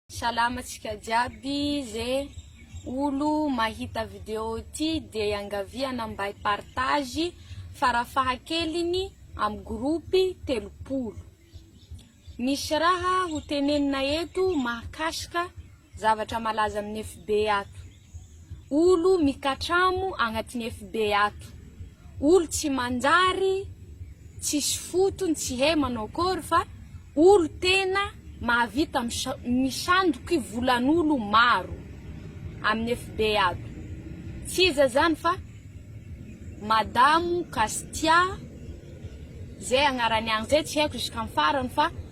Salama tsika jiaby ze olo mahita video ty de iangaviana mba hi partage farafahakeliny am groupe telopolo misy raha ho tenenina eto mahakasika zavatra malaza amn fb ato. Olo mikatramo agnatiny FB ato. Olo tsy manjary, tsisy fotony, tsy hay manao akory fa olo tena mahavita misandoky volan'olo maro amin'ny FB ato. Tsy iza zany fa Madamo Castia zay agnarany agny zay tsy haiko jusk'amin'ny farany fa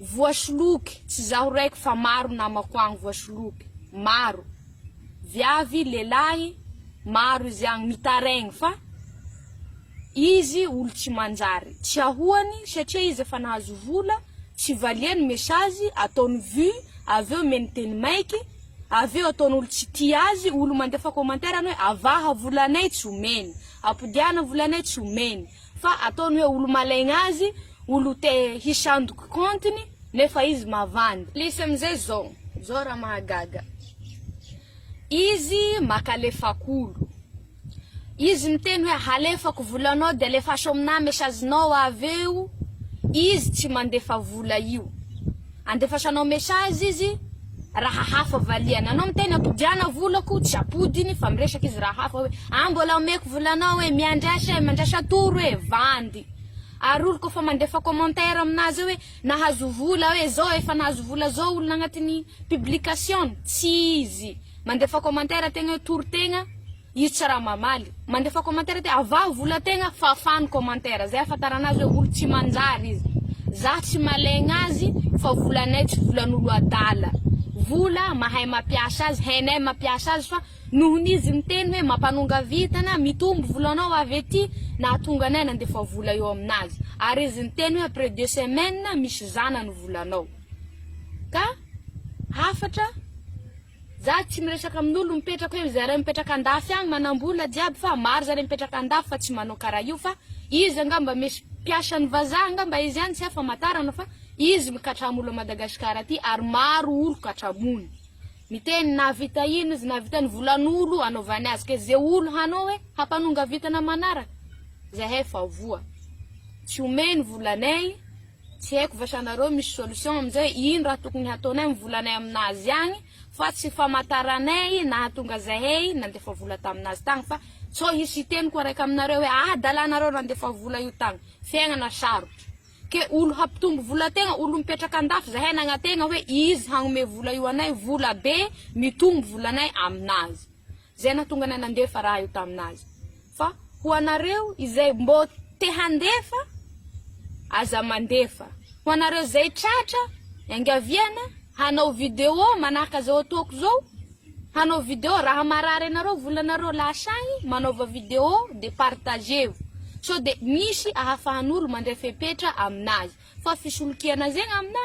Voasoloky, tsy zaho raiky fa maro namako agny voasoloky, maro, viavy, lelahy, maro izy agny mitaraigny fa izy olo tsy manjary, tsy ahoany satria izy efa nahazo vola, tsy valiany mesazy, ataony vue, avy eo omeny teny maiky, avy eo ataony olo tsy tia azy, olo mandefa commentaire ny hoe avaha volanay tsy omeny, apodiana volanay tsy omeny, Fa ataony hoe olo malaigna azy, olo te hisandoky compte-ny nefa izy mavandy. Misy amizay zao, zao raha mahagaga. Izy maka alefak'olo. Izy miteny hoe halefako volanao de alefaso aminah message-nao aveo, izy tsy mandefa vola io. Andefasanao message izy raha hafa valiany anao miteny apodiana volako tsy apodiny fa miresaka izy raha hafa hoe ah mbola omeko volanao e miandrasa e mandrasa atoro e vandy ary olo kofa mandefa commentaire aminazy hoe nahazo vola hoe zao efa nahazo vola zao olona agnatiny publication tsy izy mandefa commentaire tegna hoe toro tegna Izy tsy raha mamaly. Mandefa commentaire aty, avaho vola tegna fafà ny commentaire, zay ahafantarana azy hoe olo tsy manjary izy. Zah tsy malegna azy fa volanay tsy volan'olo adala. Vola mahay mampiasa azy, hainay mampiasa azy fa nohon'ny izy miteny hoe mampanonga vintana, mitombo volanao avy aty, nahatonga anay nandefa vola eo aminazy. Ary izy niteny hoe après deux semaines misy zana ny volanao. Ka hafatra. Za tsy miresaka amin'olo mipetraka eo izaray mipetraka andafy agny manambola jiaby fa maro zare mipetraka andafy fa tsy manao kara io fa izy angamba misy mpiasan'ny vazaha angamba izy any tsy hay famatarana fa izy mikatramo olo à Madagascar aty ary maro olo katramony miteny nahavita ino izy nahavita ny volan'olo anaovany azy ke ze olo hanao hoe hampanonga vintana manaraka zahay efa voa tsy omey ny volanay Tsy haiko va sa nareo misy solution amin'izay? Ino raha tokony hataonay amin'ny volanay aminazy agny fa tsy famataranay nahatonga zahay nandefa vola taminazy tagny fa sao hisy hiteny koa raiky aminareo hoe adala nareo nandefa vola io tagny. Fiaignana sarotra. Ke olo hampitombo vola tegna, olo mipetraka andafy zahay nagnategna hoe izy hagnomey vola io anay, vola be mitombo volanay aminazy. Izay nahatonga anay nandefa raha io tamin'azy. Fa ho anareo izay mbô te handefa, aza mandefa. Ho anareo izay tratra, iangaviana, hanao video manahaka izao ataoko izao, hanao video, raha marary anareo volanareo lasa agny, manaova video dia partager-o. Sao dia misy ahafahan'olo mandray fepetra aminazy. Fa fisolokiana zegny aminà.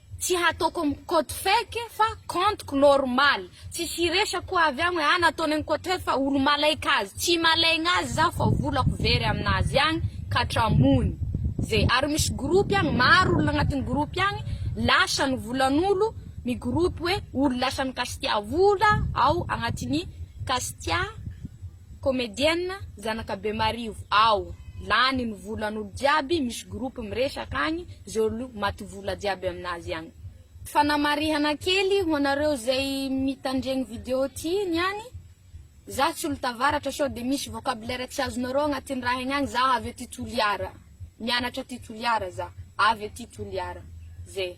Tsy hataoko am compte fake fa compte-ko normal. Tsisy hiresaka koa avy agny hoe ah nataony am compte fake fa olo malaika azy. Tsy malaigna azy zaho fa volako very aminazy agny ka atramony ze. Ary misy groupe agny maro olona agnatiny groupe agny lasa ny volan'olo mi groupe hoe olo lasa mikasitia vola ao agnatiny kasitia. Comedienne zanaka bemarivo ao lany ny volan olo jiaby misy groupe miresaka agny ze olo maty vola jiaby aminazy agny. Fanamarihana kely ho anareo izay mitandregny vidéo ty niany, za tsy olo tavaratra sao de misy vocabulaire tsy azonareo agnatin raha egny agny za avy aty Toliara, mianatra aty Toliara za, avy aty Toliara, zay.